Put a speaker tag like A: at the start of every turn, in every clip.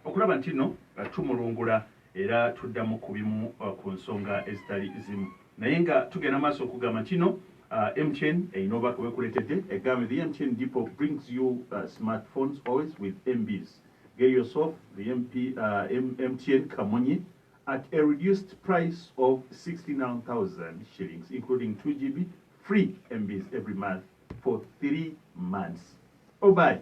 A: okulaba ntino tumulungula era tudda mu kubimu ku nsonga ezitali zimu naye nga tugenda maaso okugamba ntino MTN eyina obubaka bwekuletedde egambe the MTN depot brings you smart phones always with MBs get yourself the MP, uh, MTN kamunye at a reduced price of 69,000 shillings including 2GB free MBs every month for 3 months obayi oh,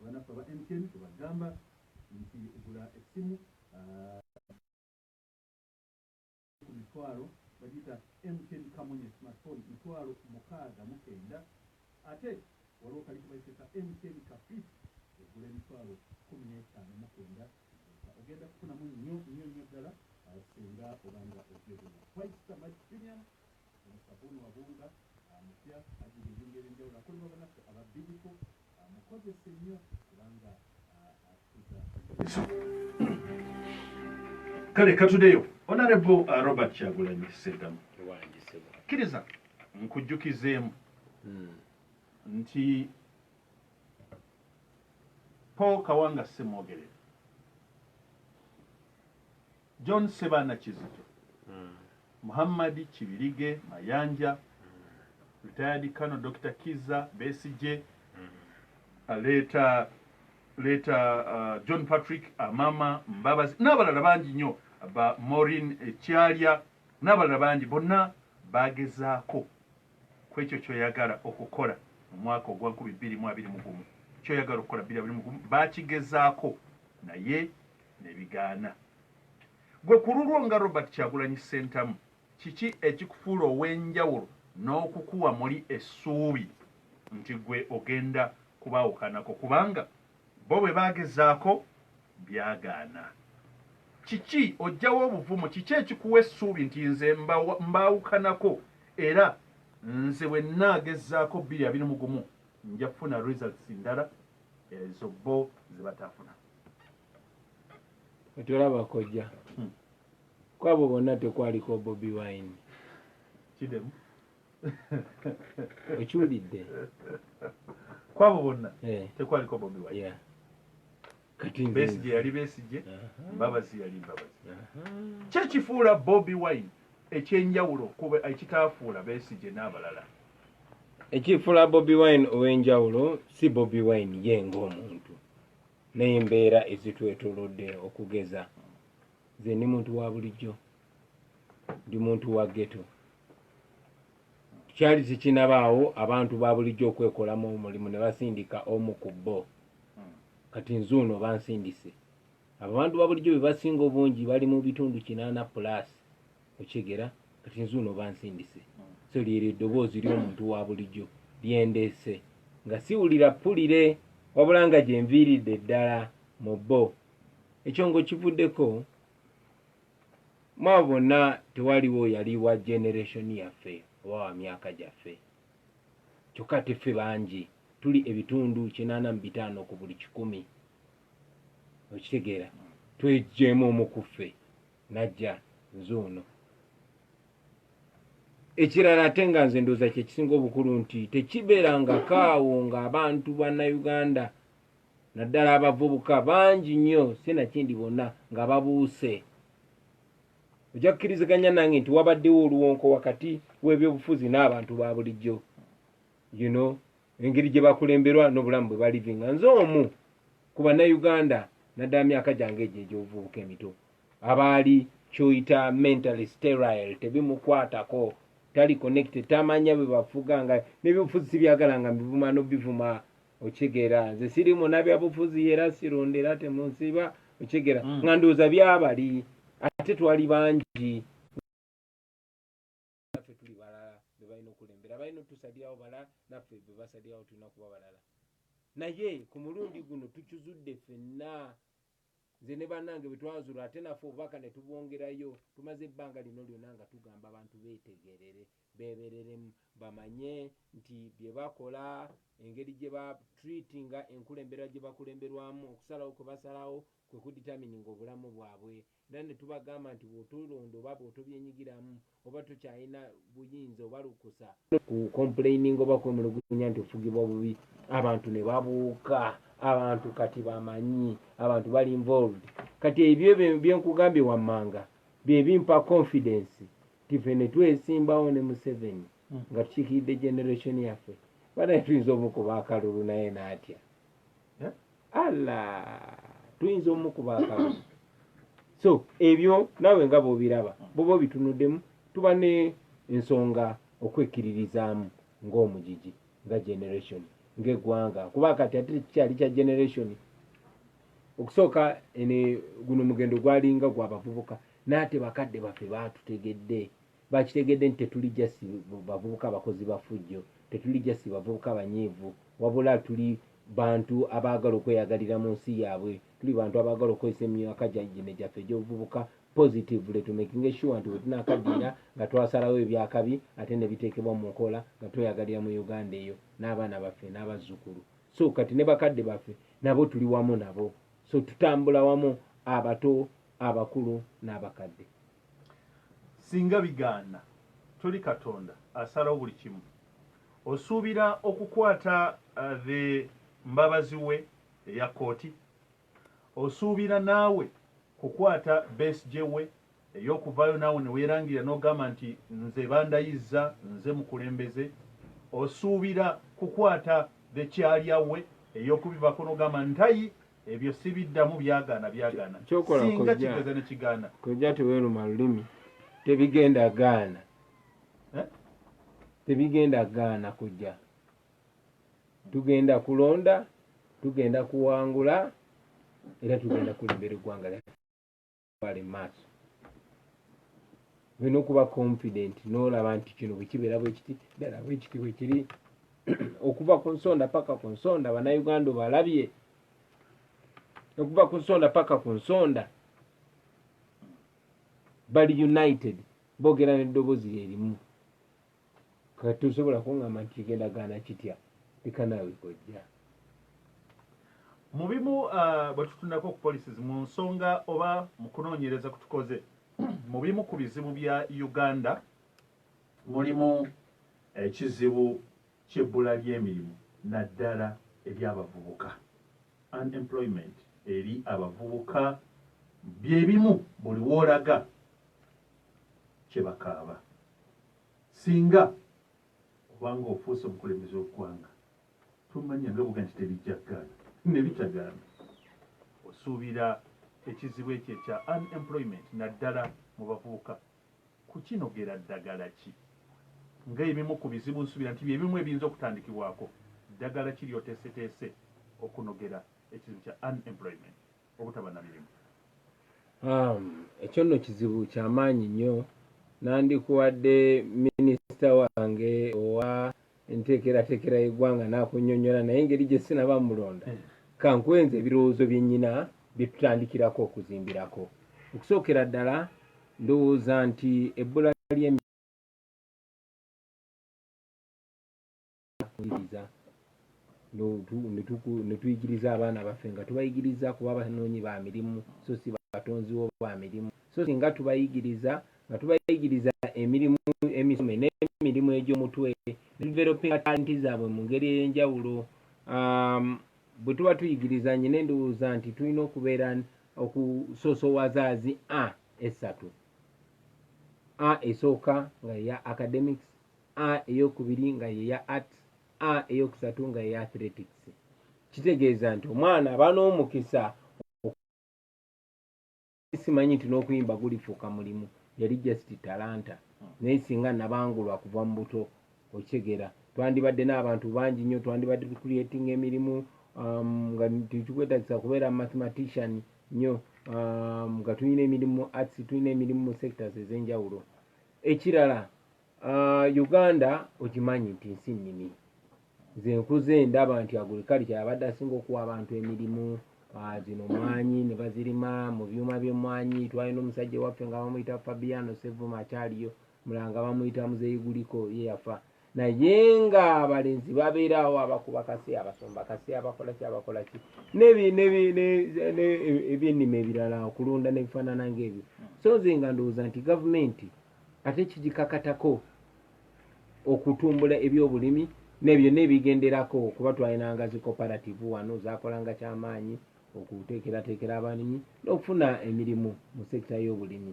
A: Banaffe aba MTN tubagamba nti gula essimu ku mitwalo bagiyita MTN Kamunye smartphone mitwalo mukaaga mu kenda ate waliwo kali kebayise ka MTN Kafit egula emitwalo kkumi n'etaano mu kenda ogenda kufunamu nnyo nnyo nnyo ddala singa obanga ogyegula. White Star Magic Premium Omusabbuuni wa Bunga mupya, ajjudde ebirungo eby'enjawulo akolebwa banaffe aba Bidco. Mukozese nnyo kubanga atukuza Kale katudeyo Honorable uh, Robert Kyagulanyi Ssentamu, kkiriza nkujjukizeemu hmm. nti Paul Kawanga Ssemwogerere John Ssebaana Kizito, Muhammad Kibirige Mayanja, Retired Colonel Dokita Kizza Besigye, Leeta Leeta John Patrick Amama Mbabazi n'abalala bangi nnyo ba Maureen Kyalya n'abalala bangi bonna baagezaako ku ekyo ky'oyagala okukola mu mwaka ogwa nkumi bbiri mu abiri mu gumu ky'oyagala okukola bbiri abiri mu gumu baakigezaako naye nebigaana. Gwe kululwo nga Robert Kyagulanyi Ssentamu kiki ekikufuula owenjawulo nokukuwa muli essuubi nti gwe ogenda kubawukanako kubanga bo bwebagezaako byagaana. Kiki ojjawa obuvumu kiki ekikuwa essuubi nti nze mbawukanako era nze bwenagezaako bbiri abiri mu gumu nja kufuna results ndala. ezo bo zebatafuna
B: otolaba kojja hmm. kwabo bonna tekwaliko bobi wine kidemu okiwulidde
A: kwabo bonna eh. tekwaliko bobi wine besije yali besije mbabazi yali mbabazi kyekifuula bobi wine ekyenjawulo kuba ekitaafuula besije n'abalala
B: ekifuula bobi wine ow'enjawulo si bobi wine ye ng'omuntu n'embeera ezitwetolodde okugeza nze ndi muntu wa bulijjo ndi muntu wa geto kyali tekinabaawo abantu ba bulijjo okwekolamu omulimu ne basindika omu ku bo kati nzuuno bansindise abantu ba bulijjo be basinga obungi bali mu bitundu kinaana pulaasi Okyegera kati nzuuno bansindise so lyeryo eddoboozi lyomuntu wabulijo lyendeese nga siwulira ppulire wabula nga gyenviiridde ddala mu bbo ekyo ngokivuddeko mwabo bonna tewaliwo yali wa generation yaffe oba wa myaka gyaffe kyokka ate ffe bangi tuli ebitundu kinaana mu bitaano ku buli kikumi okitegeera twejjeemu omu ku ffe najja nze ono ekirala ate nga nze ndooza kyekisinga obukulu nti tekibeeranga kaawo ngaabantu bannayuganda naddala abavubuka bangi nnyo sinakindi bonna nga babuuse ojja kukiriziganya nange nti wabaddewo oluwonko wakati w'ebyobufuzi n'abantu ba bulijjo you know engeri gye bakulemberwa n'obulamu bwe balivinga nze omu ku bannayuganda naddala myaka gyange egyo egy'obuvubuka emito abaali kyoyita mentally sterile tebimukwatako tali connected tamanya bwe bafuga nga nebyobufuzi sibyagala nga mbivuma nobivuma okitegeera nze siri muna byabufuzi era sironda era temunsiba okitegeera mm. nga ndowooza byabali ate twali bangi naffe tuli balala bebalina okulembera balina otusalirawo balala naffe bebasalirawo tulina kuba balala naye ku mulundi guno tukizudde fenna nze ne banange bwetwazula ate naffe obubaka ne tubwongerayo tumaze ebbanga lino lyona nga tugamba abantu betegerere bebereremu bamanye nti byebakola engeri gye batreatinga enkulembera gye bakulemberwamu okusalawo kwe basalawo kwe kuditamininga obulamu bwabwe Era ne tubagamba nti, Bw'otulonda oba bw'otobyenyigiramu, oba tokyalina buyinza oba lukusa, ku complaininga oba kwemulugunya nti ofugibwa bubi, abantu ne babuuka, abantu kati bamanyi, abantu bali involved. Kati ebyo bye nkugambye wammanga bye bimpa confidence nti ffe ne twesimbawo ne Museveni nga tukiikiridde generation yaffe, banaye tuyinza omukuba akalulu naye n'atya. ala tuyinza omukuba akamu so ebyo nawe nga bobiraba boba obitunudemu tuba ne ensonga okwekkiririzaamu ng'omugigi nga generation ng'eggwanga kuba kati ate kikyali kya generation okusooka ene guno mugendo gwalinga gwabavubuka naate bakadde baffe baatutegedde Baakitegedde nti tetuli just bavubuka bakozi ba ffujjo, tetuli just bavubuka banyiivu, wabula tuli bantu abaagala okweyagalira mu nsi yaabwe, tuli bantu abaagala okukozesa emyaka gino gyaffe egy'obuvubuka positively to making sure nti wetunaakaddiira nga twasalawo eby'akabi ate ne biteekebwa mu nkola nga tweyagalira mu Uganda eyo n'abaana baffe n'abazzukulu. So kati ne bakadde baffe nabo tuli wamu nabo. So tutambula wamu abato, abakulu n'abakadde.
A: Singa bigaana, toli Katonda asalawo buli kimu. Osuubira okukwata the mbabazi we eya kooti? Osuubira naawe kukwata Besigye we eyokuvaayo naawe newerangirira nogamba nti nze bandayizza nze mukulembeze? Osuubira kukwata the kyalya we eyokubivako nogamba ntayi Ebyo sibiddamu byagaana byagaana singa kigeza ne kigaana. Kojja teweeruma
B: lulimi tebigenda gaana eh? tebigenda gaana kujja tugenda kulonda tugenda kuwangula era tugenda kulembera eggwanga lyaffe. bali maaso olina okuba confident nolaba nti kino bwekibeera bwekiti ddala bwekiti bwekiri okuva ku nsonda paka ku nsonda banauganda obalabye okuva ku nsonda paka ku nsonda bali united bogera neddobozi lyerimu Kati tosobola kungamba nti kigenda gaana kitya leka naawe kojja.
A: Mu bimu ah, bwe tutunako ku policies mu nsonga oba mu kunoonyereza ku tukoze mu bimu ku bizibu bya Uganda mulimu ekizibu ky'ebbula ly'emirimu naddala ery'abavubuka, unemployment eri abavubuka bye bimu buli w'olaga kye bakaaba. Singa oba nga ofuuse omukulembeze w'eggwanga, tomanya nga bw'ogamba nti tebijja kugaana, ne bitagaana. Osuubira ekizibu ekyo ekya unemployment naddala mu bavubuka kukinogera ddagala ki? Nga ebimu ku bizibu nsuubira nti bye bimu ebiyinza okutandikibwako, ddagala ki ly'oteeseteese okunogera ekizibu kya unemployment? obutaba na mirimu. Um, ekyo
B: nno kizibu kyamaanyi nnyo nandikuwadde minisita wange owa enteekerateekera y'eggwanga n'akunyonyola naye engeri gye sinaba mulonda hmm. kankwenza ebirowoozo bye nnyina bye tutandikirako okuzimbirako okusookera ddala ndowooza nti ebbula ly'emi kuwuliriza ne tuyigiriza abaana baffe nga tubayigiriza kuba banoonyi ba mirimu so si batonzi wo ba mirimu so singa tubayigiriza nga tubayigiriza emirimu emisome n'emirimu egy'omutwe ne tuvelopinga talenti zaabwe mu ngeri ey'enjawulo um, bwe tuba tuyigiriza nyina endowooza nti tulina okubeera okusoosowaza zi a esatu a esooka nga eya academics A eyokubiri nga yeya art A eyokusatu nga yeya athletics kitegeeza nti omwana aba n'omukisa simanyi nti n'okuyimba gulifuuka mulimu yali just talanta naye singa nabangulwa kuva mu buto okitegeera twandibadde n'abantu bangi nnyo twandibadde tucreatinga emirimu um, nga tekikwetagisa kubeera mathematician nnyo um, nga tulina emirimu arts tulina emirimu mu sectors ez'enjawulo ekirala Uh, uganda okimanyi nti nsi nnimi nze nkuze ndaba nti agurikali kyabadde asinga okuwa abantu emirimu ah, zino mwanyi ne bazirima mu byuma by'emmwanyi twalina omusajja waffe nga bamuyita fabiano sevuma akyaliyo mulanga bamuyita muzeyiguliko ye yafa naye nga abalenzi babeeraawo abakuba kase abasomba kase abakolaki abakolaki ebyennima ebirala okulunda nebifaanana ngaebyo so nze nga ndowooza nti gavumenti ate kigikakatako okutumbula ebyobulimi nebyo nebigenderako kuba twalinanga zi cooperative wano zakolanga kyamaanyi okuteekerateekera abalimi n'okufuna emirimu mu sekita y'obulimi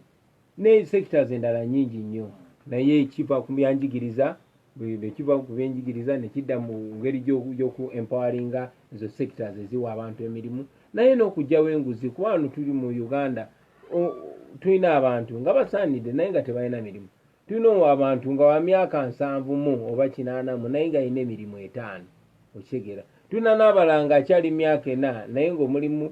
B: ne sectors endala nyingi nnyo naye kiva ku byanjigiriza bwekiva ku byenjigiriza nekidda mu ngeri gyoku empoweringa ezo sectors eziwa abantu emirimu naye n'okugyawo enguzi kuba wano tuli mu uganda tulina abantu nga basaanidde naye nga tebalina mirimu tulina abantu nga wamyaka nsanvu mu oba kinaana mu naye nga alina emirimu etaano okitegeera tulina n'abala nga akyali myaka ena naye ngaomulimu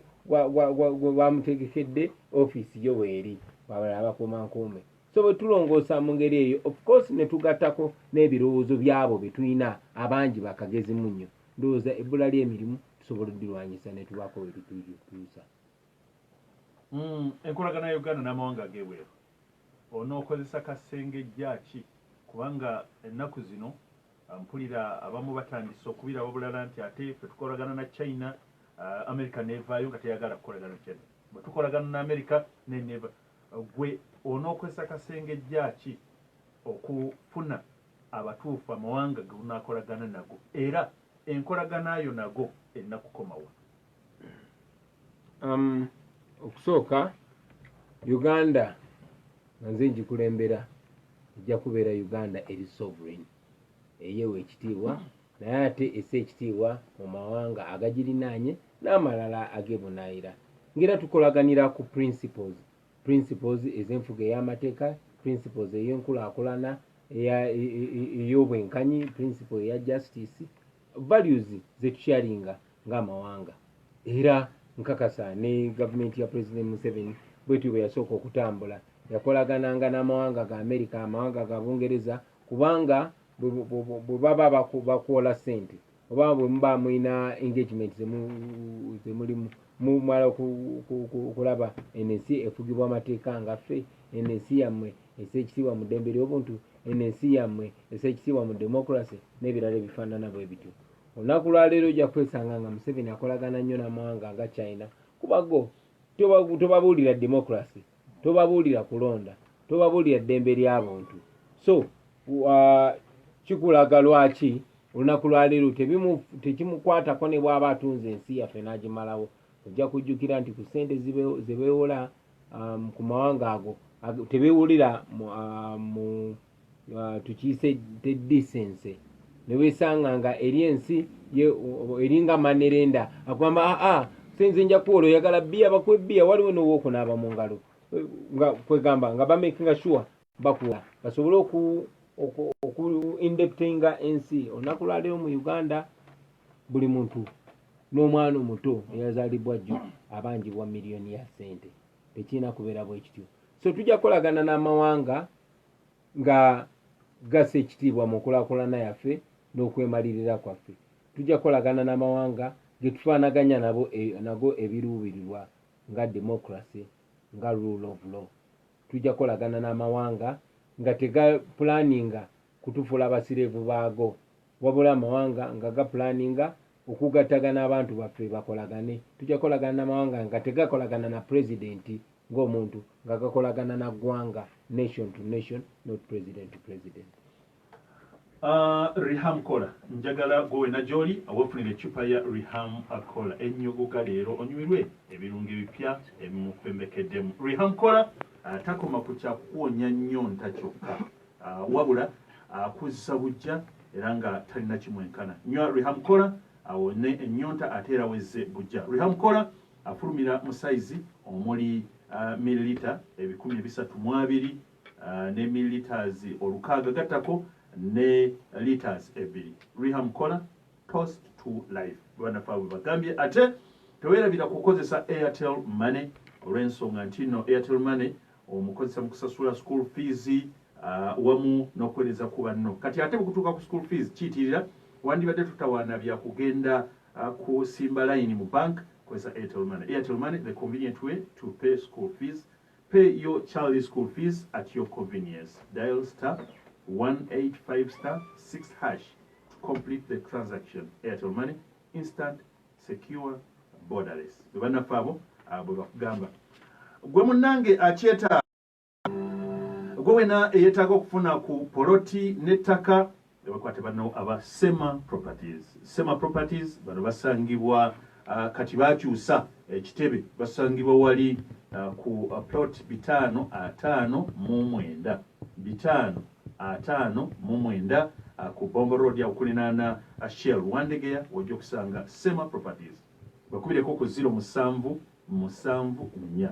B: gwamutegekedde ofiisi yo weeri wabala abakuuma nkuume so bwe tulongoosa mu ngeri eyo ofcourse ne tugattako n'ebirowoozo byabo bye tulina abangi bakagezi mu nnyo ndowooza ebbula ly'emirimu tusobola odirwanyisa ne tubaako wetutuusa
A: Enkolagana ya Uganda n'amawanga ag'ebweru onookozesa kasengejja ki kubanga ennaku zino mpulira abamu batandise okubiraba bulala nti ate ffe tukolagana na China, America n'evaayo nga teyagala kukolagana na China, bwe tukolagana na America naye n'eva. Ggwe onookozesa kasengejja ki okufuna abatuufu amawanga ge unaakolagana nago era enkolagana yo nago erina kukoma wa? Um,
B: okusooka uganda nga nze ngikulembera ejja kubeera uganda eri sovereign eyewa ekitiibwa naye ate ese ekitiibwa mu mawanga agagirinaanye n'amalala agebunaayira ngaera tukolaganira ku principles principles ez'enfuga ey'amateeka principles ey'enkulaakulana ey'obwenkanyi principle eya justice values zetusharinga ng'amawanga era nkakasa ne gavumenti ya president museveni bwetyo bwe yasooka okutambula yakolagananga n'amawanga ga amerika amawanga ga bungereza kubanga bwe baba bakuwola sente oba bwe muba mulina engagement zemulimu mumala okulaba ensi efugibwa amateeka ngaffe ensi yammwe ese ekitiibwa mu ddembe ly'obuntu eno ensi yammwe ese ekitiibwa mu demokulase n'ebirala ebifaanana bwe bityo olunaku lwaleero ojja kwesanga nga museveni akolagana nnyo n'amawanga nga china kuba go tobabuulira demokulase tobabuulira kulonda tobabuulira ddembe lya buntu so uh, kikulaga lwaki olunaku lwaleero tekimukwatako ne bw'aba atunze ensi yaffe n'agimalawo ojja kujjukira nti ku ssente ze beewola um, ku mawanga ago tebewulira mu um, uh, tukiyise te disense newesanga nga eri ensi eringa manerenda akugamba aa ah, ah, senze nja kuwola oyagala bbiya bakuwa ebbiya waliwo nowokunaaba mu ngalo nga kwegamba nga bamakinga sure bakula basobole oku oku, oku indeptinga ensi olunaku lwaleero mu uganda buli muntu n'omwana omuto eyazalibwa jjo abanjibwa miliyoni ya sente tekirina kubeera bwekityo so tujja kukolagana n'amawanga nga gasa ekitiibwa mu nkulakulana yaffe n'okwemalirira kwaffe tujja kukolagana n'amawanga getufaanaganya nabo e, nago ebiruubirirwa nga democracy nga rule of law Tujja kukolagana n'amawanga nga tegapulaaninga kutufuula abasireevu baago, wabula amawanga nga gapulaaninga okugattaga n'abantu baffe bakolagane. Tujja kukolagana n'amawanga nga tegakolagana na Pulezidenti ng'omuntu, nga gakolagana na ggwanga, nation to nation, not president to president. Uh,
A: reham kola njagala gwe wena gyoli wefunira ecupa ya reham kola ennyuguga leero onyumirwe ebirungo ebipya ebimufembekeddemu reham kola uh, takoma ku kyakukuwonya nnyo nta kyokka uh, wabula akuzza uh, bujja era nga talina kimwenkana nywa reham kola awone uh, ennyonta ate era wezze bujja reham kola afulumira uh, mu sayizi omuli uh, mililita ebikumi ebisatu mu abiri ne millilitres olukaaga gattako ne litres ebbiri reham kola toast to life banafe abwe bagambye ate tewerabira kukozesa airtel money olw'ensonga nti no airtel money omukozesa mu kusasula school fees uh, wamu n'okuweereza ku banno kati ate bwekutuuka ku school fees kiyitirira wandibadde tutawaana bya kugenda uh, kusimba layini mu bank kozesa airtel money airtel money the convenient way to pay school fees Pay your child school fees at your convenience. Dial star 185 star 6 hash to complete the transaction. Airtel Money, instant, secure, borderless. Bebanaffe abo ah, bwe bakugamba. Gwe munnange akyetaaga gwe wena eyeetaaga okufuna ku poloti n'ettaka Ne bakwata banno aba Sema Properties. Sema Properties bano basangibwa uh, kati bakyusa ekitebe basangibwa wali uh, ku uh, plot bitaano ataano mu mwenda bitaano ataano mu mwenda uh, ku Bombo Road awukulinaana uh, Shell Wandegeya wojja okusanga Sema Properties bakubireko ku ziro musanvu musanvu nnya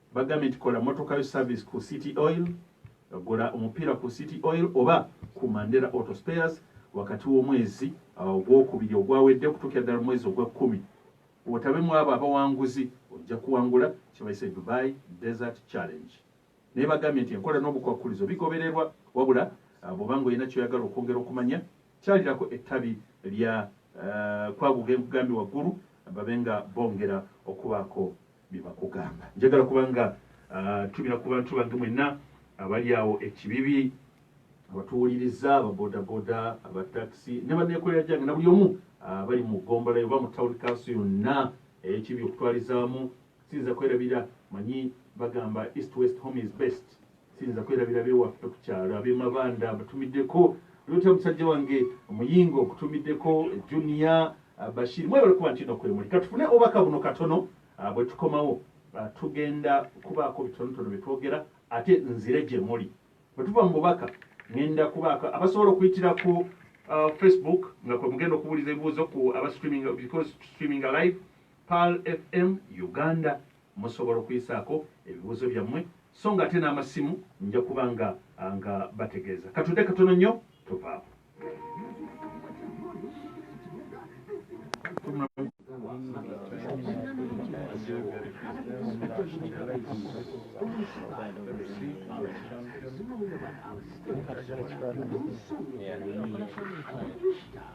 A: Bagambye nti kola motoka yo service ku City Oil, gula omupiira ku City Oil oba ku Mandela Auto Spares wakati w'omwezi uh, ogwokubiri ogwawedde okutuukira ddala omwezi ogw'ekkumi otabe mu abo abawanguzi ojja kuwangula kyebayise Dubai Desert Challenge. Naye bagambye nti enkola n'obukwakkulizo bigobererwa wabula uh, bw'oba ng'olina kyoyagala okwongera okumanya kyalirako ettabi lya uh, kwaguga enkugambye waggulu babe nga bongera okubaako bye bakugamba njagala kubanga uh, tubira ku bantu bange mwenna abali awo ekibibi abatuwuliriza ababodaboda abatakisi ne baneekolera gyange na buli omu uh, bali mu gombola oba mu tawuni kanso yonna ekibi okutwalizaamu siyinza kwerabira manyi bagamba east west home is best Siyinza kwerabira ab'ewaffe ku kyalo ab'e Mabanda mbatumiddeko Luuta musajja wange Muyingo nkutumiddeko Junior uh, Bashir mwebale kuba nti no kwemuli. Katufune obubaka buno katono uh, bwe tukomawo uh, tugenda kubaako bitonotono bye twogera ate nzire gye muli. Bwe tuva mu bubaka ngenda kubaako abasobola okuyitira ku uh, Facebook nga kwe mugenda okubuuliza ebibuuzo ku aba streaming because streaming live Pearl FM Uganda. Musobola okuyisaako ebibuuzo byammwe so nga ate n'amasimu nja kuba nga nga bategeeza. Katudde katono nnyo tovaawo. Yeah.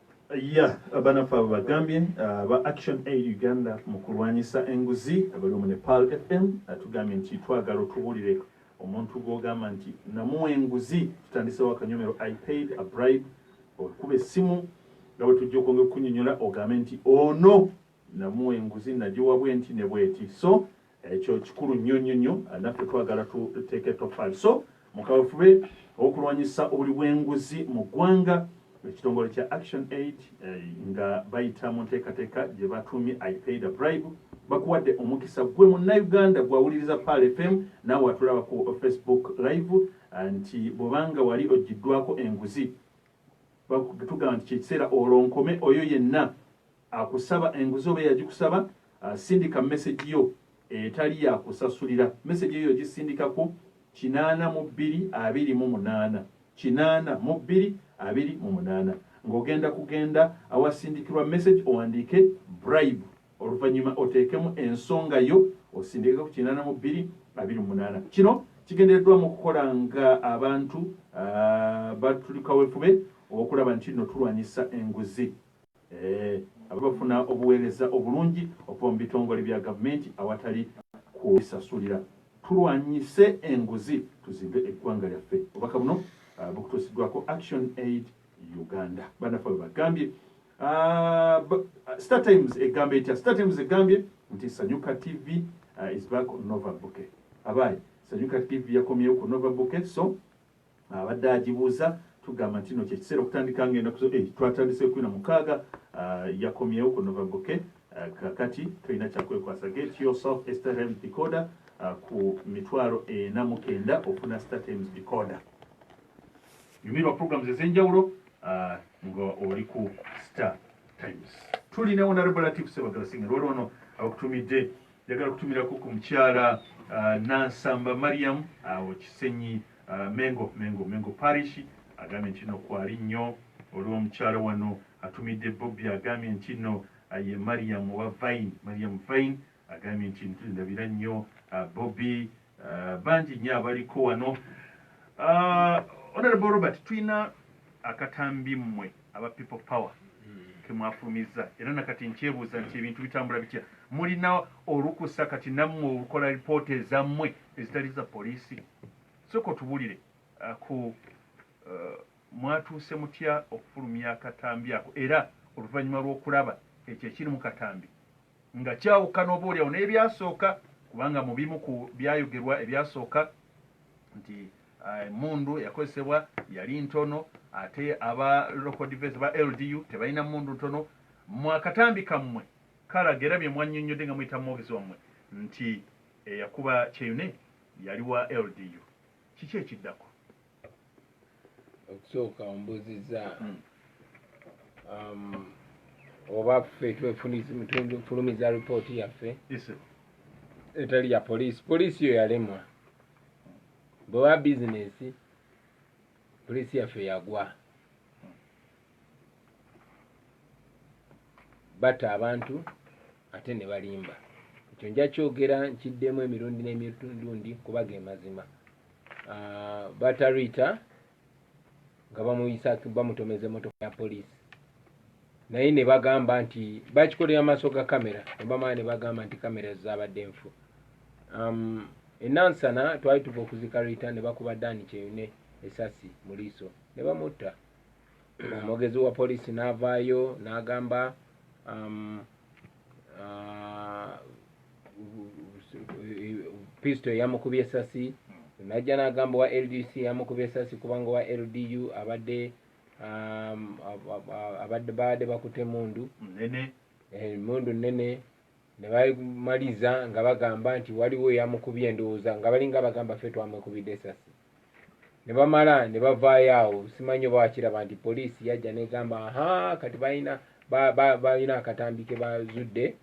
A: ya banafe abo bagambye uh, ba action aid uganda mu kulwanyisa enguzi abali omu nepal fm atugambye nti twagala otubuulire omuntu gwogamba nti namuwa enguzi tutandisewo akanyomero i paid a bribe okuba essimu nga bwe tujja okwongera okunyonyola ogambe nti ono namuwa enguzi nagiwa bwenti ne bweti so Ekyo kikulu nnyo nnyo nnyo, naffe twagala tuteeka ettoffaali. So mu kaweefube w'okulwanyisa obuli bw'enguzi mu ggwanga, ekitongole kya Action Aid eh, nga bayita mu nteekateeka gye batuumye I paid a bribe bakuwadde omukisa gwe munnayuganda gwawuliriza Pearl FM naawe atulaba ku Facebook live eh, nti bw'obanga wali ogiddwako enguzi tugamba nti kyekiseera olonkome oyo yenna Akusaba enguzi oba eyagikusaba asindika mesegi yo etali ya kusasulira. Mesegi eyo ogisindika ku kinaana mu bbiri abiri mu munaana, kinaana mu bbiri abiri mu munaana. Ng'ogenda kugenda awasindikirwa mesegi owandiike Bribe oluvannyuma oteekemu ensonga yo osindike ku kinaana mu bbiri abiri mu munaana. Kino kigendereddwamu okukola ng'abantu batuli kawefube okulaba nti nno tulwanyisa enguzi. Eeh, bafuna obuweereza obulungi okuva mu bitongole bya gavumenti awatali kwesasulira. Tulwanyise enguzi tuzimbe eggwanga lyaffe. Obubaka buno bukutuusiddwako Action Aid Uganda. Bannaffe bwe bagambye. Star Times egamba etya? Star Times egambye nti Sanyuka TV is back on Nova Bouquet. Abaaye, Sanyuka TV yakomyewo ku Nova Bouquet so. Abadde agibuuza tugamba ntino kyekiseera okutandika nga enaku zo eh, twatandise ekumi na mukaaga ah, yakomyewo ku novaboke ah, kakati tolina kyakwekwasa get yourself a startime decoder ah, ku mitwalo ena mukenda ofuna startimes decoder yumirwa programs ezenjawulo nga oli ku star times tulina honorable latif sebagala singa lwali ono abakutumidde yagala kutumirako ku mukyala nansamba mariam awo kisenyi Mengo Mengo Mengo Parish agambye ntino kwali nnyo olwo mukyala wano atumidde Bobi agambye ntino ye Mariam owa Vine Mariam Vine agambye nti ntulindabira nnyo Bobi bangi nnyo abaliko wano Honorable Robert tulina akatambi mmwe aba people power kemwafulumizza era nakati nkyebuuza nti ebintu bitambula bitya mulina olukusa kati nammwe olukola lipoota ezammwe ezitali za poliisi Soka otubulire ku mwatuuse mutya okufulumya akatambi ako era oluvanyuma lw'okulaba ekyo ekiri mu katambi nga kyawukana oba olyawo n'ebyasooka kubanga mu bimu ku byayogerwa ebyasooka nti eh, emundu eyakozesebwa yali ntono ate aba local defense ba LDU tebalina mundu ntono mu akatambi kammwe kalaga era bye mwannyonnyodde nga muyita mu mwogezi wammwe nti eyakuba kyeyune Yali wa LDU. Kiki ekiddako?
B: Okusooka ombuziza hmm. um, oba ffe twefulumiza ripooti yaffe etali ya poliisi poliisi yo yalemwa bwewa bizinesi poliisi yaffe yagwa batta abantu ate ne balimba ekyo nja kyogera nkiddemu emirundi n'emirundi kuba ge mazima ah, batta riita nga bamuyisa bamutomeza emotoka ya poliisi naye ne bagamba nti bakikolera maaso ga kamera ne bamala ne bagamba nti kamera zaabadde nfu um, enansana twali tuva okuzika riita ne bakuba daani kyeyune esasi mu liiso ne bamutta omwogezi wa poliisi n'avaayo n'agamba um, uh, pisto eyamukubye esasi najja n'agamba owa ldc yamukubye esasi kubanga owa ldu abadde um, abadde baadde bakuta emundu emundu eh, nnene ne bamaliza nga bagamba nti waliwo eyamukubye endowooza nga balinga bagamba fe twamukubidde esasi ne bamala ne bavaayo awo simanyi oba wakiraba nti poliisi yajja negamba aha kati balina balina akatambi ke bazudde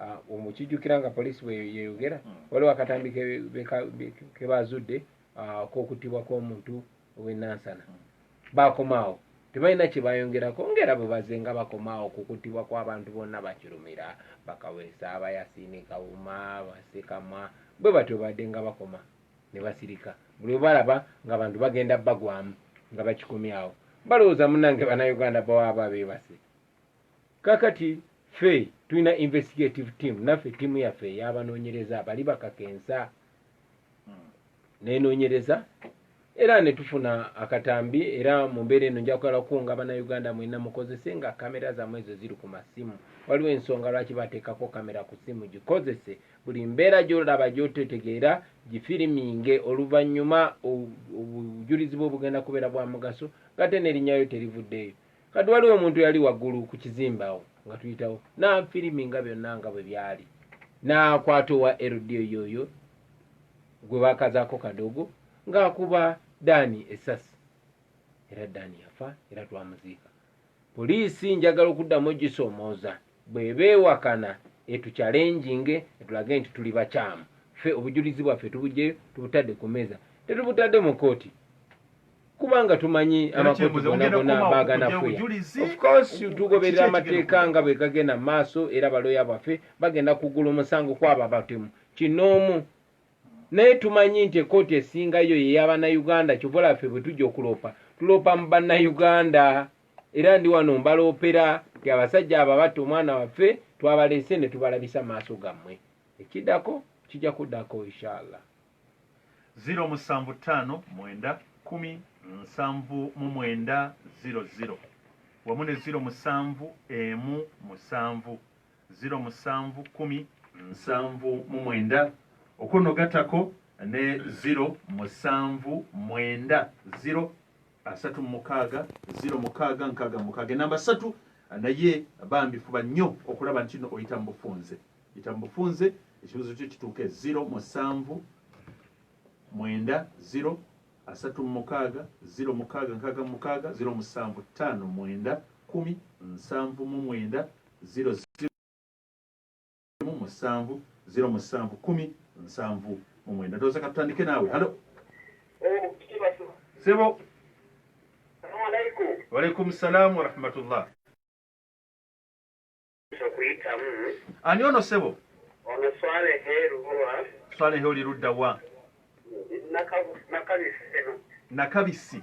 B: ah, omukijjukira nga poliisi bweyeyogera hmm. waliwo akatambi ke bazudde ah, kokuttibwa kw'omuntu ow'enansana hmm. bakomaawo tebalina kye bayongerako ngaera bwe baze nga bakomaawo kukuttibwa kw'abantu bonna bakirumira bakaweesa abayasiini kawuma basekamwa bwe batyo badde nga bakoma ne basirika buli we balaba ng'abantu bagenda bagwamu nga bakikomyawo balowooza munange bannayuganda bawaaba beebase kakati ffe tulina investigative team naffe ttiimu yaffe eyabanoonyereza bali bakakensa nenoonyereza era ne tufuna akatambi era mu mbeera eno nja kugala kukunga bannayuganda mwena mukozese nga kamera zammwe ezo ziri ku masimu waliwo ensonga lwaki bateekako kamera ku simu gikozese Buli mbeera gy'olaba gy'ototegeera gifiriminge oluvannyuma obujulizi bwo bugenda kubeera bwa mugaso ng'ate n'erinnya lyo terivuddeeyo. Kati waliwo omuntu eyali waggulu ku kizimbe awo nga tuyitawo n'afiriminga byonna nga bwe byali n'akwata owa LDO y'oyo gwe baakazaako kadogo ng'akuba Daani essasi era Daani yafa era twamuziika. Poliisi njagala okuddamu ogisoomooza bw'eba ewakana etukyalenjinge etulage nti tuli bakyamu. Ffe obujulizi bwaffe tubuggyeyo tubutadde ku mmeeza, tetubutadde mu kkooti kubanga tumanyi amakooti gonna gonna baaganafuya. Of course tugoberera amateeka nga bwe gagenda mu maaso era balooya baffe bagenda kuggula omusango kw'abo abatemu kinnoomu. Naye tumanyi nti ekooti esinga yo ye yabanayuganda kyova olaba ffe bwetuja okuloopa tuloopa mu banayuganda era ndi wano mbaloopera nti abasajja abo abatta omwana waffe twabaleese netubalabisa maaso gammwe ekidako kija kudako ishallah. Ziro musanvu ttaano mwenda kkumi
A: nsanvu mu mwenda ziro ziro wamu ne ziro musanvu emu musanvu ziro musanvu kkumi nsanvu mu mwenda okwo no gatako ne ziro musanvu mwenda ziro asatu mumukaaga ziro mukaaga nkaaga mumukaaga enamba satu naye bambi fuba nnyo okulaba nti no oyita mu bufunze yita mu bufunze ekibuzo kyo kituuke ziro musanvu mwenda ziro asatu mumukaaga ziro mukaaga nkaaga mumukaaga ziro musanvu ttaano mwenda kumi nsanvu mu mwenda Ziro ziro emu musanvu ziro musanvu kumi nsanvu mu mwenda ndowooza katutandike naawe halo sebo walaikum salaamu warahmatullah ani ono sebo swalehe oli ludda wa nakabisi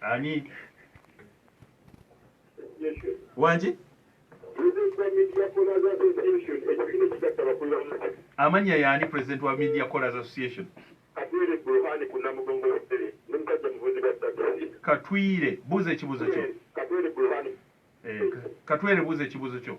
A: ani wangi amannya yaani president wa media callers association katwire buuza ekibuuzo kyo eh, katwere buuza ekibuuzo kyo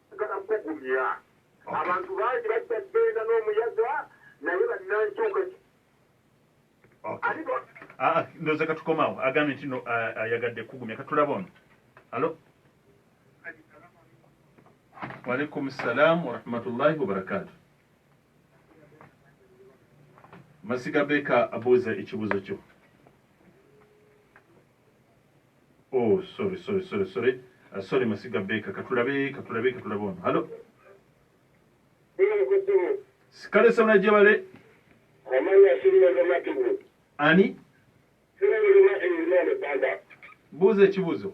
C: Njagala kugumya abantu bangi bajja kugenda n'omuyaga naye
A: bannankyuka ah, ah, ndoza katukomawo agambye nti ah, ayagadde kugumya katulaba ono alo waalaikum salaamu warahmatullahi wabarakatu masiga beeka abuuza ekibuuzo kyo Oh sorry sorry sorry sorry uh, sorry masiga beka katulabe katulabe katulabe ono halo sikale sabula jebale ani buuza ekibuuzo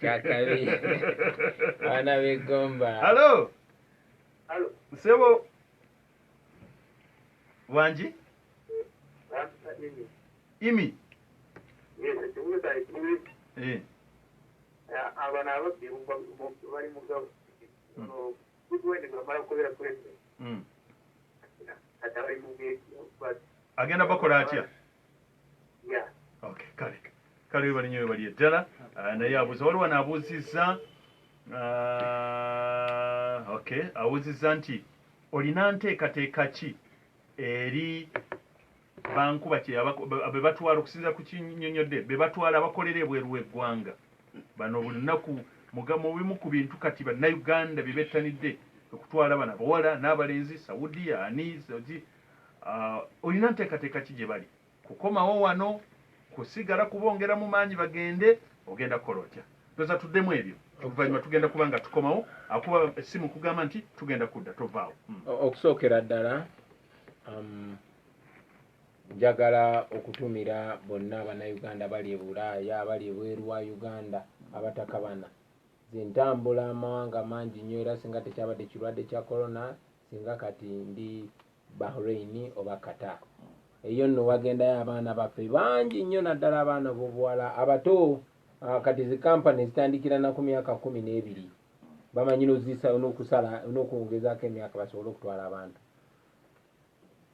B: kyakabi abaana begomba halo
A: nsebo wangi imi eh.
C: abana ababbi bali mugabo agenda
A: bakola atya kale webali nyo webali eddala ah, naye abuuza waliwo anaabuuzizza ah, ok abuuzizza nti olina nteekateeka ki eri bankuba bebatwala okusinzira ku kinyonyodde bebatwala abakolera ebweru w'eggwanga bano buli lunaku mugamba obimu ku bintu kati bannayuganda bye bettanidde okutwala bano abawala n'abalenzi saudia ani Uh, olina nteekateeka ki gye bali? Kukomawo wano, kusigala kubongeramu maanyi bagende? Ogenda kukola otya? Ndowooza tuddemu ebyo, oluvannyuma tugenda kuba nga tukomawo. Akuba essimu kugamba nti tugenda kudda, tovaawo. Hmm. Okusookera
B: ddala um, njagala okutumira bonna abannayuganda bali e bulaaya abali ebweru wa uganda abatakabana zentambula amawanga mangi nnyo era singa tekyabadde kirwadde kya corona Singa kati ndi Bahrain oba Qatar. Eyo nno wagendayo abaana baffe bangi nnyo naddala abaana bobuwala abato ah, kati zi kampani zitandikira na ku myaka kumi n'ebiri bamanyi nozisa nokusala nokwongezako emyaka basobole okutwala abantu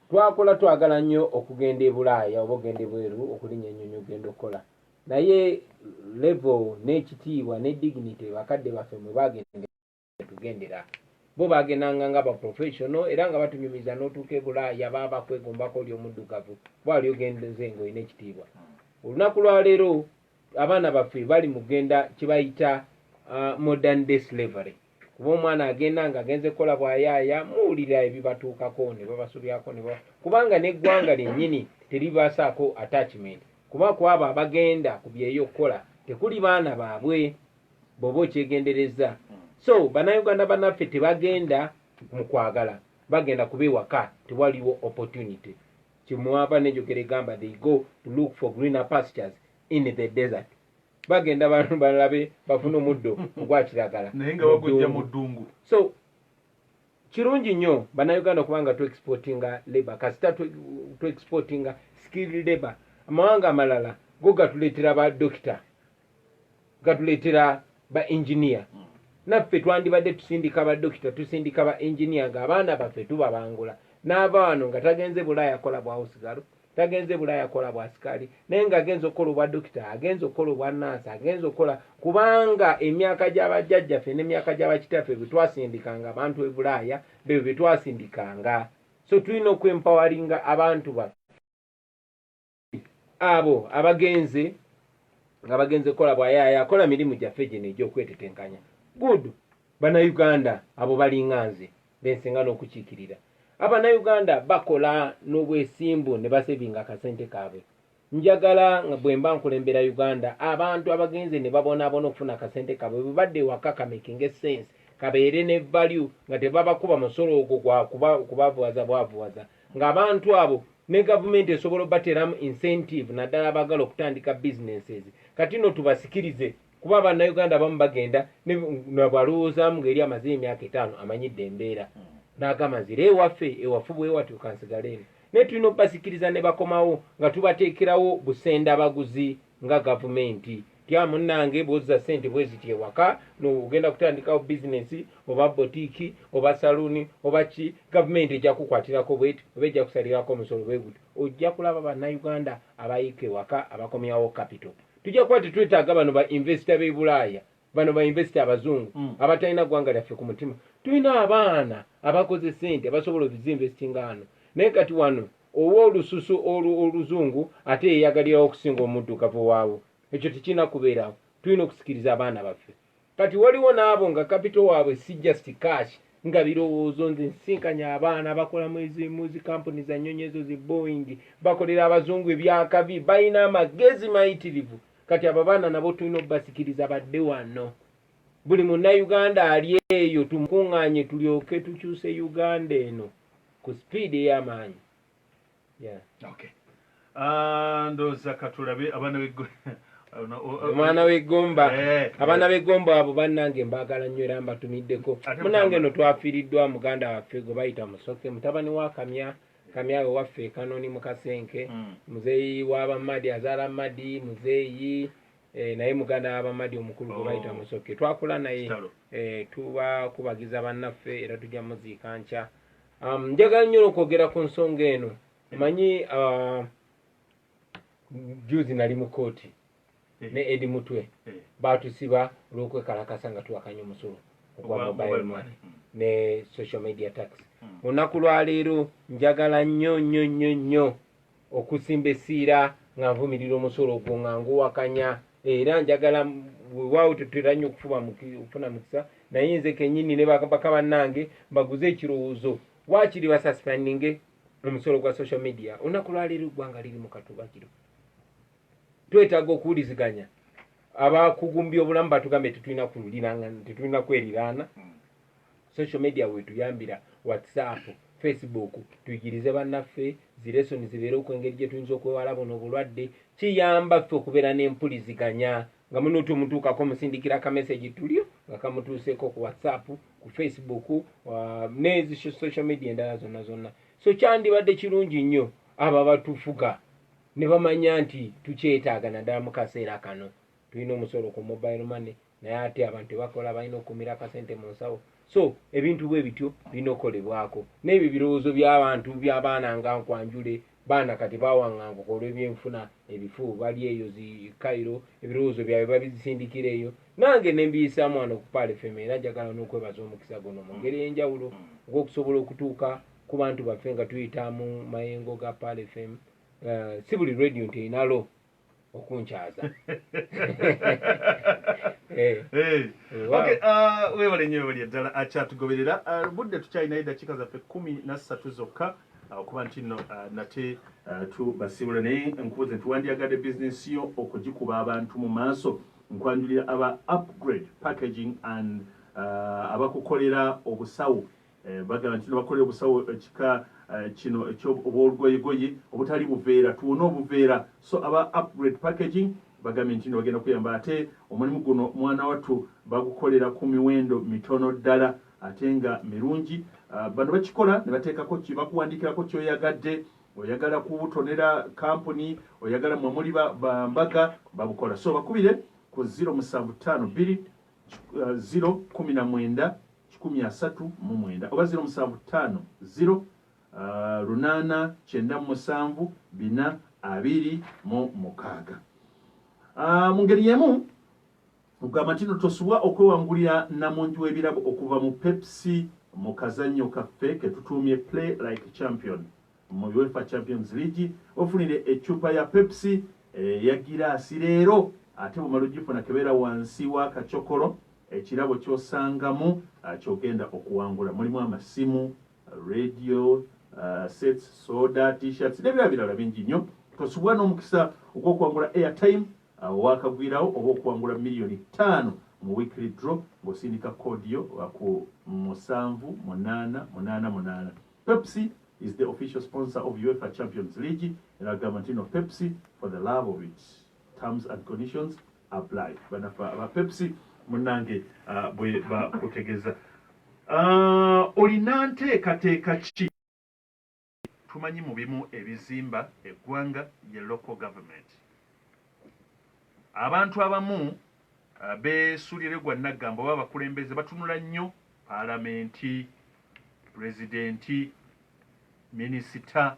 B: twakola twagala nnyo okugenda ebulaaya oba okugenda ebweru okulinya enyonyi okugenda okukola naye level n'ekitiibwa ne dignity bakadde baffe mwe bagenda tugendera bo bagendanga nga ba professional era nga batunyumiza n'otuuka e bulaaya baba kwegombako oli omuddugavu bwali ogenze nga olina ekitiibwa olunaku lwaleero abaana baffe bali mu kugenda kyebayita uh, modern day slavery kuba omwana agenda nga agenze kukola bwayaaya muwulira ebibatuukako ne babasobyako kubanga n'eggwanga lyennyini teribasaako attachment kuba kwabo abagenda ku byeyo okukola tekuli baana baabwe bwoba okyegenderezza so banauganda banaffe tebagenda mukwagala bagenda kuba ewaka tewaliwo opportunity kimwava nenjogera egamba they go to look for greener pastures in the desert bagenda bantu balabe bafuna omuddo ogwakiragala naye nga bagujja mu
A: ddungu so
B: kirungi nnyo banauganda kubanga tu exportinga labor kasita tu exportinga skilled labor amawanga amalala go gatuleetera ba dokita gatuleetera ba engineer hmm. naffe twandibadde tusindika badokita tusindika ba engineer nga abaana baffe tubabangula naava wano nga tagenze bulaaya kola bwawusigalo tagenze bulaaya kola bwasikali naye nga agenza okukola obwa dokita agenza okukola obwa nansi agenza okukola kubanga emyaka gyabajjajjaffe nemyaka gyabakitaffe bwetwasindikanga abantu ebulaaya bebyo byetwasindikanga so tulina okuempawaringa abantu baffe abo abagenze nga bagenze kukola bwayaaya akola mirimu gyaffe gino egy'okwetetenkanya good banauganda abo balinga nze bensinga n'okukiikirira abanauganda bakola n'obwesimbu ne basevinga akasente kaabwe njagala nga bwe mba nkulembera uganda abantu abagenze ne babonaabona okufuna akasente kaabwe bwe badde ewaka kamakinga esense kabeere ne value nga tebabakuba musolo ogwo gwa kubavuwaza bwavuwaza kuba, ng'abantu abo ne gavumenti esobola obateeramu incentive naddala abaagala okutandika businesses kati no tubasikirize kuba abannayuganda abamu bagenda nabwalowoozaamu ng'eri amaze emyaka etaano amanyidde embeera n'agamba nzira ewaffe ewafu bwewatyo kansigaleeno naye tulina obasikiriza ne bakomawo nga tubateekerawo busenda baguzi nga gavumenti tya munange bwozza sente bweziti ewaka nogenda kutandikawo bizinesi oba botiiki oba saluuni oba ki gavumenti ejja kukwatirako bweti oba ejja kusalirako omusolo bweguti ojja kulaba bannayuganda abayiika ewaka abakomyawo kapito tujja kuba tetwetaaga bano ba invesita b'e bulaaya bano ba investor abazungu mm. abatalina gwanga lyaffe ku mutima tulina abaana abakoze sente basobola oziinvestinga ano naye kati wano owa olususu oluzungu ate yeyagalirawo okusinga omuddugavu waawo ekyo tekirina kubeerawo tulina okusikiriza abaana baffe kati waliwo naabo nga kapito waabwe si just cash nga birowoozo nze nsinkanya abaana bakola mwezimu zikampuni za nyonyi ezo zi boing bakolera abazungu ebyakabi balina amagezi mayitirivu kati abo abaana nabo tulina obasikiriza badde wano buli munnayuganda ali eyo tumukuŋŋaanye tulyoke tukyuse uganda eno ku sipiidi ey'amaanyi yeah.
A: okay. Ah, ndoza katulabe abana bigwe
B: omwana wegomba eh, abana eh. begomba abo banange mbagala nnyo era mbatumiddeko munange no twafiiriddwa muganda waffe gwe bayita musoke mutabani wa kamya kamyawe waffe ekanoni mukasenke mm. muzeeyi wabamadi azaala madi muzeeyi eh, naye muganda wabamadi omukulu gwe oh. bayita musoke twakula naye eh, tuba kubagiza bannaffe era tujja muziika nkya um, njagala nnyo nokwogera ku nsonga eno manyi uh, juzi nali mu kooti eh. ne edi mutwe eh. batusiba olwokwekalakasa nga tuwakanya omusolo ogwa mobile money hmm. ne social media tax hmm. olunaku lwaleero njagala nnyo nnyo nnyo nnyo okusimba esiira nga nvumirira omusolo ogwo nga nguwakanya era njagala wewawo tetera nnyo okufuba okufuna mukisa naye nze kenyini ne baka bannange mbaguze ekirowoozo wakiri basasipandinge omusolo gwa social media olunaku lwaleero eggwanga liri mu katubakiro twetaaga okuwuliziganya abakugumbi obulamu batugambye tetulina kululiranga tetulina kweriraana social media wetuyambira whatsapp facebook tuyigirize bannaffe zilesoni zibeere okwengeri gye tuyinza okwewala buno obulwadde kiyamba ffe okubeera n'empuliziganya nga muno tumutuukako musindikira akamesegi tulyo nga kamutuuseeko ku whatsapp ku facebook uh, nezi social media endala zonna zonna so kyandibadde kirungi nnyo abo abatufuga ne bamanya nti tukyetaaga naddala mu kaseera kano tulina omusolo ku mobile money naye ate abantu tebakola balina okukumira akasente mu nsawo so ebintu bwe bityo birina okukolebwako n'ebyo birowoozo by'abantu by'abaana nga nkwanjule baana kati bawaŋŋanguka olw'ebyenfuna ebifu bali eyo zi kairo ebirowoozo byabwe babizisindikira eyo nange ne mbiyisaamu wano ku paale fema era njagala n'okwebaza omukisa guno mu ngeri ey'enjawulo ogw'okusobola okutuuka ku bantu baffe nga tuyita mu mayengo ga paale fema Eh, si buli radio nti erina lo okunkyaza eh.
A: eh, ah, webale nyo webali eddala akyatugoberera ah, ah, budde tukyalinayo eddakiika zaffe kumi nassatu zokka okuba nti no nate tubasiibula naye nkubuze nti wandyagadde bizinesi yo okugikuba abantu mu maaso nkwanjulira aba upgrade packaging and abakukolera obusawo Bagala nti nebakola obusawo ekika kino ekyo obwolugoyegoye obutali buveera tuwone obuveera so aba upgrade packaging bagambye ntino bagenda kuyamba ate omulimu guno mwanawattu bagukolera ku miwendo mitono ddala ate nga mirungi bano bakikola nebateekako ki bakuwandikirako kyoyagadde oyagala kubutonera kampuni oyagala mwe muli bambaga babukola so bakubire ku 0752 019 kikumi asatu mu mwenda oba ziro musanvu ttaano ziro uh, lunaana kyenda mu musanvu bina abiri mu mukaaga uh, mu ngeri yemu ogamba ntino tosubwa okwewangulira namungi w'ebirabo okuva mu pepsi mu kazannyo kaffe ketutuumye play like champion Mu Uefa Champions League ofunire eccupa ya Pepsi eya giraasi leero ate bw'omala ogifuna kebera wansi w'akacokolo ekirabo ky'osangamu ky'ogenda okuwangula mulimu amasimu, radio, sets, soda, t-shirts n'ebirala birala bingi nnyo. Tosubwa n'omukisa ogw'okuwangula airtime owakagwirawo oba okuwangula miliyoni ttaano mu weekly draw ng'osindika koodi yo ku musanvu munaana munaana munaana. Pepsi is the official sponsor of UEFA Champions League era agamba nti no Pepsi for the love of it terms and conditions apply banafa aba Pepsi munange uh, bwe bakutegeza uh, olina nteekateeka ki tumanyi mu bimu ebizimba eggwanga ye local government abantu abamu uh, besulire gwa naggamba oba abakulembeze batunula nnyo Paalamenti, Pulezidenti, Minisita,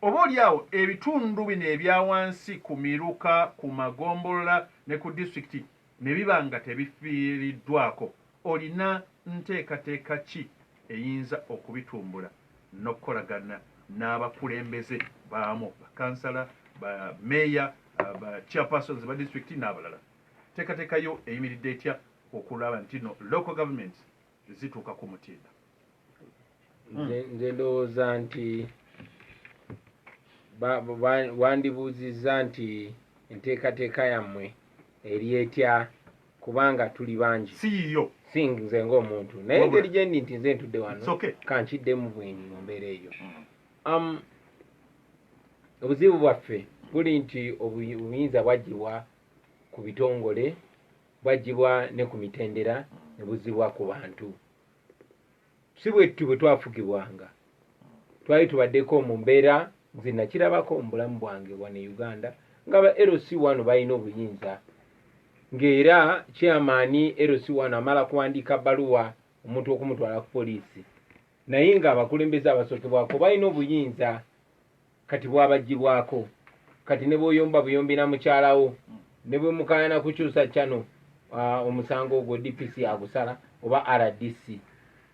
A: oba oli awo ebitundu bino ebya wansi ku miruka, ku magombolola ne ku disitulikiti ne biba nga tebifiiriddwaako, olina nteekateeka ki eyinza okubitumbula n'okukolagana n'abakulembeze baamu, bakansala, ba meeya, ba chairpersons ba disitulikiti n'abalala? Nteekateeka yo eyimiridde etya okulaba ntino local government zituuka ku mutindo nze
B: ndowooza nti wandibuuzizza nti enteekateeka yammwe eri etya kubanga tuli bangi siyiyo si
A: nze
B: ngaomuntu naye engeri gyendi nti nze ntudde wano kankiddemu bwenyi mu mbeera eyo mm. um, obuzibu bwaffe buli nti obuyinza bwagibwa ku bitongole bwaggyibwa ne ku mitendera ne buzzibwa ku bantu si bwetutyo bwe twafugibwanga twali tubaddeko mu mbeera nze nakirabako mu bulamu bwange wano e uganda nga ba lc wano balina obuyinza ng'era kyamaani lc wano amala kuwandiika baluwa omuntu okumutwala ku poliisi naye ng'abakulembeze abasookebwako balina obuyinza kati bwabajjibwako kati ne bwoyomba buyombi na mukyalawo ne bwe mukayana kukyusa kyano omusango ogwo dpc agusala oba rdc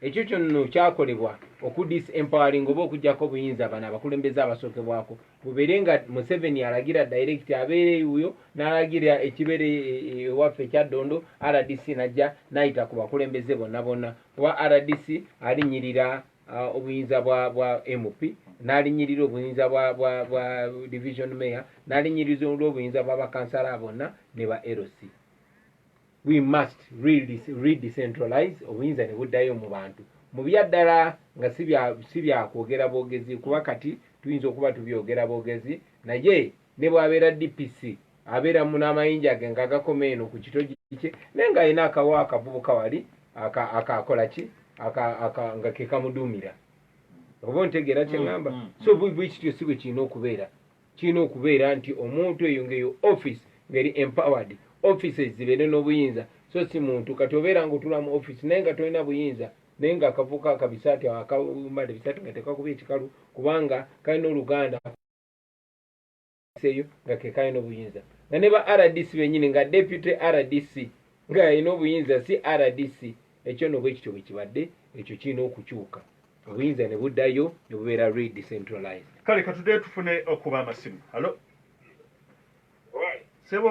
B: ekyo kyonno kyakolebwa okudis empowering oba okujjako obuyinza bano abakulembeze abasookebwako bubeere nga museveni alagira direct abeere wuyo nalagira ekibeere e, e, e, ewaffe ekyaddondo rdc najja nayita ku bakulembeze bonna bonna kuba rdc alinyirira uh, obuyinza bwa, bwa mp nalinyirira obuyinza bwa, bwa, bwa division mayor nalinyiriza olwobuyinza bwa bakansala bonna ne ba lc we must redecentralize obuyinza ne buddayo mu bantu mu byaddala nga si byakwogera bwogezi kuba kati tuyinza okuba tubyogera bwogezi naye Ne bw'abeera DPC, abeera mu n'amayinja ge ng'agakoma eno ku kitogi kye, naye ng'alina akawa akavubuka wali aka, aka, akola ki? Aka, aka, nga ke kamuduumira. Oba ontegeera kye ŋŋamba? Mm, mm, mm. So, bwe kityo si bwe kirina okubeera. Kirina okubeera nti omuntu eyo ng'eyo office ng'eri empowered, offices zibeere n'obuyinza, so si muntu. Kati obeera ng'otula mu office naye nga tolina buyinza, naye ng'akavubuka akabisaati awo akambala ebisaati nga tekakubye kikalu, kubanga kalina oluganda. seyo nga kekayo n'obuyinza nga ne ba rdc benyini nga deputy rdc nga alina obuyinza si rdc ekyo no bwekityo bwekibadde ekyo kirina okukyuka obuyinza ne buddayo ne bubeera redecentralized kale katudde
A: tufune okuba amasimu halo sebo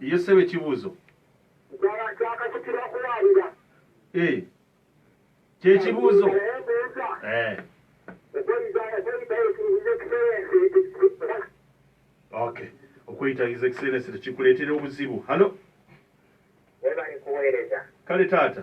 A: Ye ssebo ekibuuzo eh, kyekibuuzo eh. okay okweyita his excellence tekikuleetera obuzibu halo
C: kale taata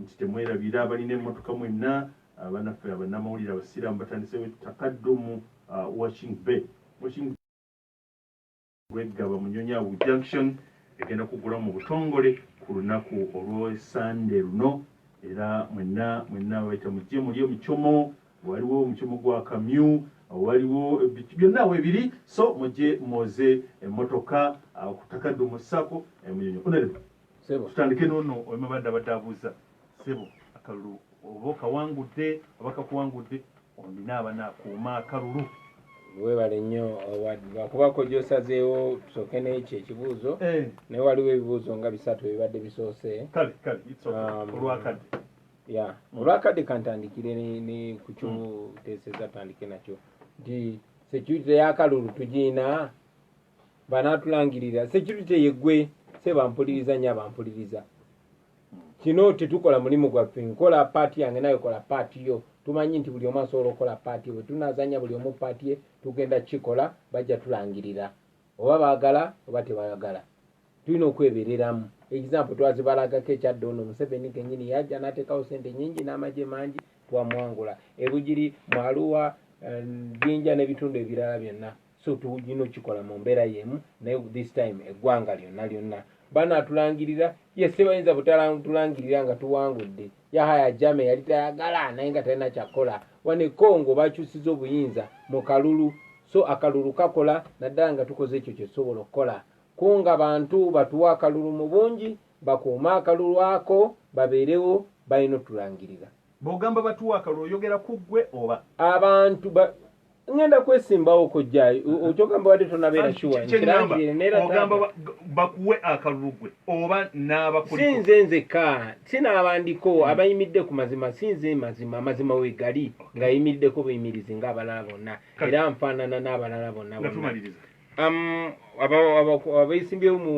A: nti temwerabira abalina emotoka mwenna banaffe abanamawulire abasiraamu batandisewo Taqaddum washing bay washing Bweggaba Munyonyo Awu Junction egenda kuggulawo mu butongole ku lunaku olw'e Ssande luno era mwenna mwenna abayita mujje mulye omucomo waliwo omucomo gwa kamyu waliwo byonna awo ebiri so mujje mwoze emmotoka ku Taqaddum ssaako Munyonyo Honorable sebo tutandike
B: nono
A: oyemabadde abadde abuuza sebo akalulu oba okawangudde oba kakuwangudde olina abana akuuma akalulu webale
B: nnyo wakubako gyosazeewo tusooke nekyo ekibuuzo eh. naye waliwo ebibuuzo nga bisatu ebibadde bisoose
A: um,
B: olwakadde kantandikire ne ku kyoteeseza tutandike nakyo nti security yakalulu tugiina banatulangirira security yegwe seba mpuliriza nya bampuliriza kino tetukola mulimu gwaffe nkola paati yange naye kola paati yo tumanyi nti buli omu asobola okukola paati bwe tunazanya buli omu paati ye tugenda kikola bajja tulangirira oba bagala oba tebayagala tulina okwebereramu example twazibalagako ekyadde ono museveni kenyini yajja natekawo sente nyingi n'amagye mangi twamwangula ebugiri mwaluwa eh, jinja n'ebitundu ebirala byonna so tulina okikola mu mbeera yemu naye this time eggwanga lyonna lyonna banaatulangirira ye sibayinza butulangirira nga tuwangudde yahaya jame yali tayagala naye nga talina kyakola wane congo bakyusiza obuyinza mu kalulu so akalulu kakola naddala nga tukoze ekyo kyetusobola okukola kunga bantu batuwa akalulu mu bungi bakuume akalulu ako babeerewo balina otulangirira Bwogamba batuwa
A: akalulu oyogera ku ggwe oba? Abantu ba
B: ngenda kwesimbawo kojjayo mm-hmm. okyogamba wadde tonabeera kiwaogamba
A: bakuwe akalulugwe oba n'abakusinze nzeka
B: sinaabandiko mm. abayimidde ku mazima sinze mazima amazima wegali ng'ayimiddeko buyimirizi ng'abalala bonna era nfaanana n'abalala bonna Um, abeesimbyewo mu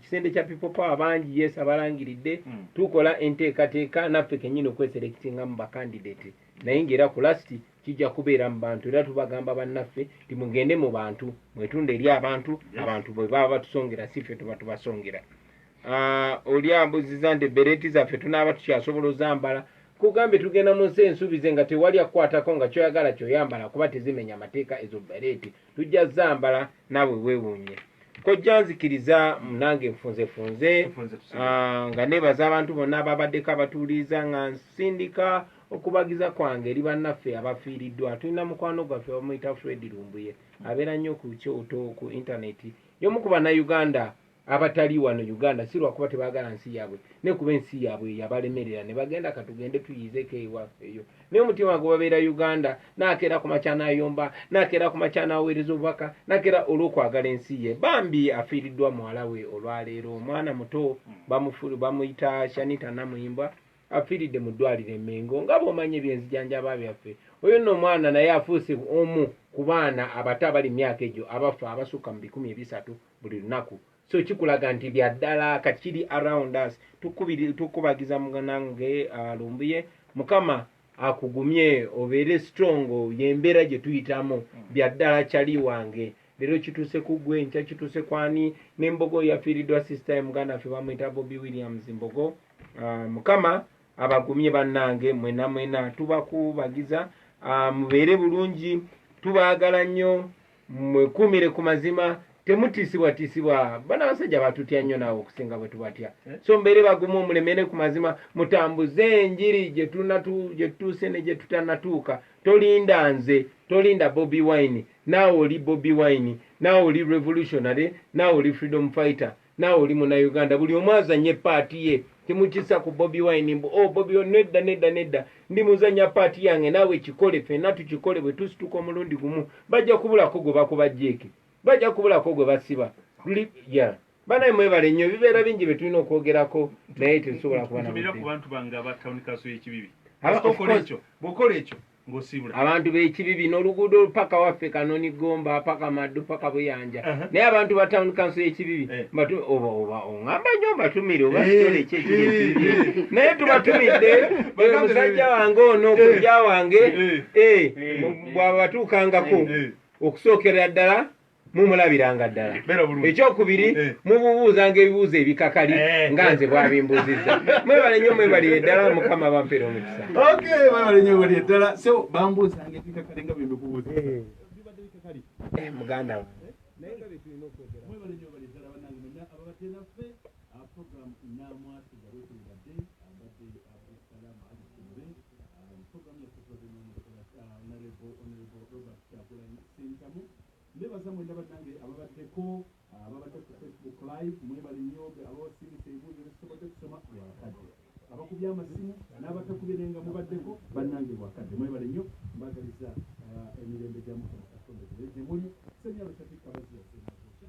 B: kisende kya people power bangi yes abalangiridde hmm. tukola enteekateeka naffe kenyini okweserekitinga mu bakandidate naye ngaera ku lasti kijja kubeera mu bantu era tubagamba bannaffe ti mugende mu bantu mwetunda eri abantu abantu bwe baba batusongera si ffe tuba tubasongera ah, oli ambuziza nti bereti zaffe tunaaba tukyasobola ozambala kugambye tugenda mu nsi ensuubize nga tewali akukwatako nga kyoyagala kyoyambala kuba tezimenya amateeka ezo bereti tujja zambala naawe weewuunye kojja nzikiriza munange nfunzefunze ah, nga nebaza abantu bonna ababaddeko abatuuliiza nga nsindika okubagiza kwange eri bannaffe abafiiriddwa tulina mukwano gwaffe bamuyita fred lumbuye abeera nnyo ku kyoto ku intaneti yomu ku bannayuganda abatali wano uganda si lwakuba tebagala nsi yaabwe ne kuba ensi yaabwe yabalemerera ne bagenda katugende tuyizeeko ewaffe eyo naye omutima gwe babeera uganda nakeera ku makya nayomba nakeera ku makya naweereza obubaka nakeera olw'okwagala ensi ye bambi afiiriddwa muwala we olwaleero omwana muto bamuyita shanita namuyimbwa afiiridde mu ddwaliro emengo nga bwomanyi ebyenzijanjaba byaffe oyo nno omwana naye afuuse omu ku baana abato abali mu myaka egyo abafa abasukka mu bikumi ebisatu buli lunaku so kikulaga nti byaddala kakiri around us tukubagiza muganange uh, lumbuye mukama akugumye obeere strong yembeera gye tuyitamu byaddala kyali wange leero kituuse ku gwe nkya kituuse kwani nembogo yafiiriddwa sister ye muganda ffe bamuyita bobi williams mbogo uh, mukama abagumye bannange mwena mwena tubakubagiza uh, mubeere bulungi tubaagala nnyo mwekuumire ku mazima temutiisibwatiisibwa bana basajja batutya nnyo naawe okusinga bwe tubatya eh? so mbeere bagumu omulemere ku mazima mutambuze enjiri gye tutuuse ne gye tutanatuuka tolinda nze tolinda bobi wine naawe oli bobi wine naawe oli revolutionary naawe oli freedom fighter Naawe oli munauganda buli omu azanye paati ye temukisa ku bobi wine mbu o oh, bobi wine nedda nedda nedda ndi muzanya paati yange naawe kikole fenna tukikole bwe tusituka omulundi gumu bajja kubulako gwe bakuba jeeke bajja kubulako gwe basiba ya banaye mwebale nnyo ebibeera bingi bye tulina okwogerako naye tetusobola kuba
A: na
B: bwokola ekyo
A: ngosibula abantu bekibibi
B: noluguudo paka waffe kanoni gomba paka maddu paka buyanja uh -huh. naye abantu ba town council yekibibi eh. oba oba ongamba nyo mbatumire oba eh. kitole kyekiri eh. naye tubatumidde omusajja eh, wange ono kujja wange bwaba batuukangako okusookerera ddala mumulabiranga ddala ekyokubiri eh. mububuuzanga ebibuuzo ebikakali eh. nga nze bwabimbuzizza mwebale nyo mwebalire ddala mukama bampera omukisa
A: eh, muganda wange Sentamu nebaza mwena banange ababadde ko ababadde ku Facebook live mwebale nyo be abawasindise ebibuuzo byetusobodde kusoma lwakadde abakubye amasimu nabatakubye naye nga mubaddeko banange lwakadde mwebale nyo mbagaliza emirembe gya mukama katonda gibere gyemuli senyalo shafiq kabazi yasenakokya